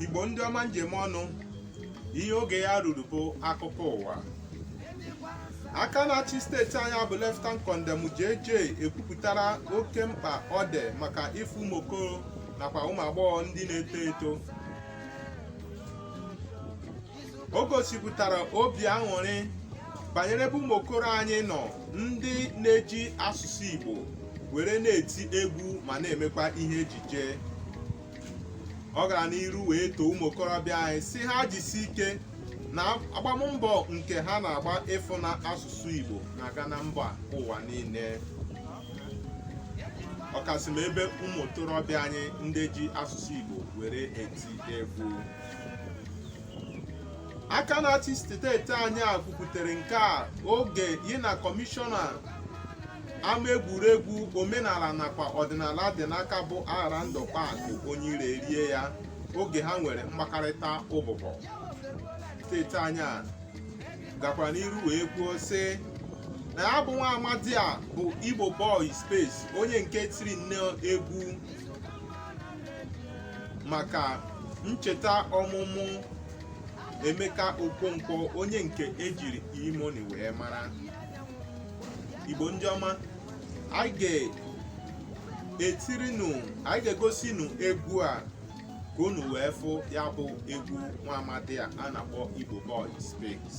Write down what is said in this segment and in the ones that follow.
igbo ndị ọma m ji eme ọnụ ihe oge ya ruru bụ akụkọ ụwa aka na-achị steeti anyị bụ leftan kọndem JJ ekwupụtara oke mkpa ọ dị maka ịfụ ụmụ okoro nakwa ụmụ agbọghọ ndị na-eto eto o gosipụtara obi aṅụrị banyere ebe ụmụ okoro anyị nọ ndị na-eji asụsụ Igbo were na-eti egwu ma na-emekwa ihe ejije ọ gara n'iru wee too ụmụ okorobịa anyị sị ha jisi ike na agbammbọ nke ha na-agba ịfụ na asụsụ Igbo na-aga na mba ụwa niile ọkasị ma ebe ụmụ okorobịa anyị ndị ji asụsụ Igbo were eti egwu aka na-achị steeti anyị a kwupụtara nke a oge ya na kọmishọna ama egwuregwu omenala nakwa ọdịnala dị n'aka bụ aghara ndụ kpaa akụ onye iro erie ya oge ha nwere mkpakọrịta ụbụbọ steeti anyị a gakwara n'iru wee kwuo sị na ya bụ nwa amadi a bụ igbo boy space onye nke tiri nne egwu maka ncheta ọmụmụ Emeka Okonkwo onye nke ejiri E-Money wee mara Igbo ndị ọma anyị ga-etiri unu anyị ga-egosi unu egwu a ka unu wee fụ ya bụ egwu nwa amadi a a na-akpọ Igbo Boy Space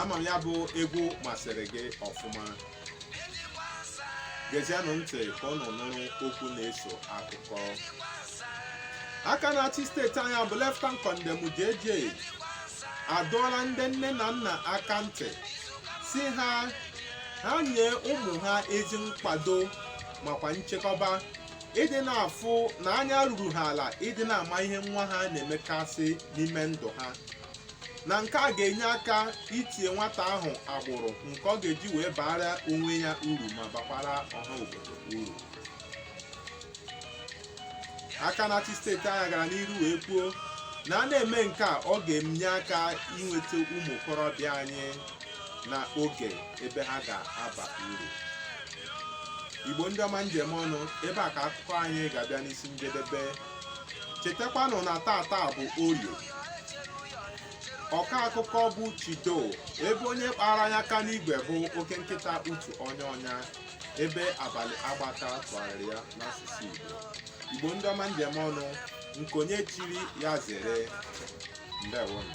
ama m ya bụ egwu masịrị gị ọfụma gezienụ ntị ka unu nụrụ okwu na-eso akụkọ aka na-achị steeti anyị bụ leftan kọndem JJ adọọla ndị nne na nna aka ntị sị ha ha nye ụmụ ha ezi nkwado makwa nchekwaba ịdị na-afụ na anya ruru ha ala ịdị na-ama ihe nwa ha na-emekasị n'ime ndụ ha na nke a ga-enye aka itinye nwata ahụ agbụrụ nke ọ ga-eji wee baara onwe ya uru ma bakwara ọha obodo uru aka na-achị steeti anyị gara n'iru wee kwuo na a na-eme nke a ọ ga-enye aka inweta ụmụ okorobịa anyị na oge ebe ha ga-aba uru igbo ndị ọma m ji eme ọnụ ebe a ka akụkọ anyị ga-abịa n'isi njedebe chetakwanụ na taata bụ orie ọka akụkọ bụ chido ebe onye kpara ya aka n'igwe bụ oke nkịta utu onye ọnya ebe abalị agbata tụgharịrị ya n'asụsụ igbo igbo ndị ọma m ji eme ọnụ nke onye chiri ya zere ndewonụ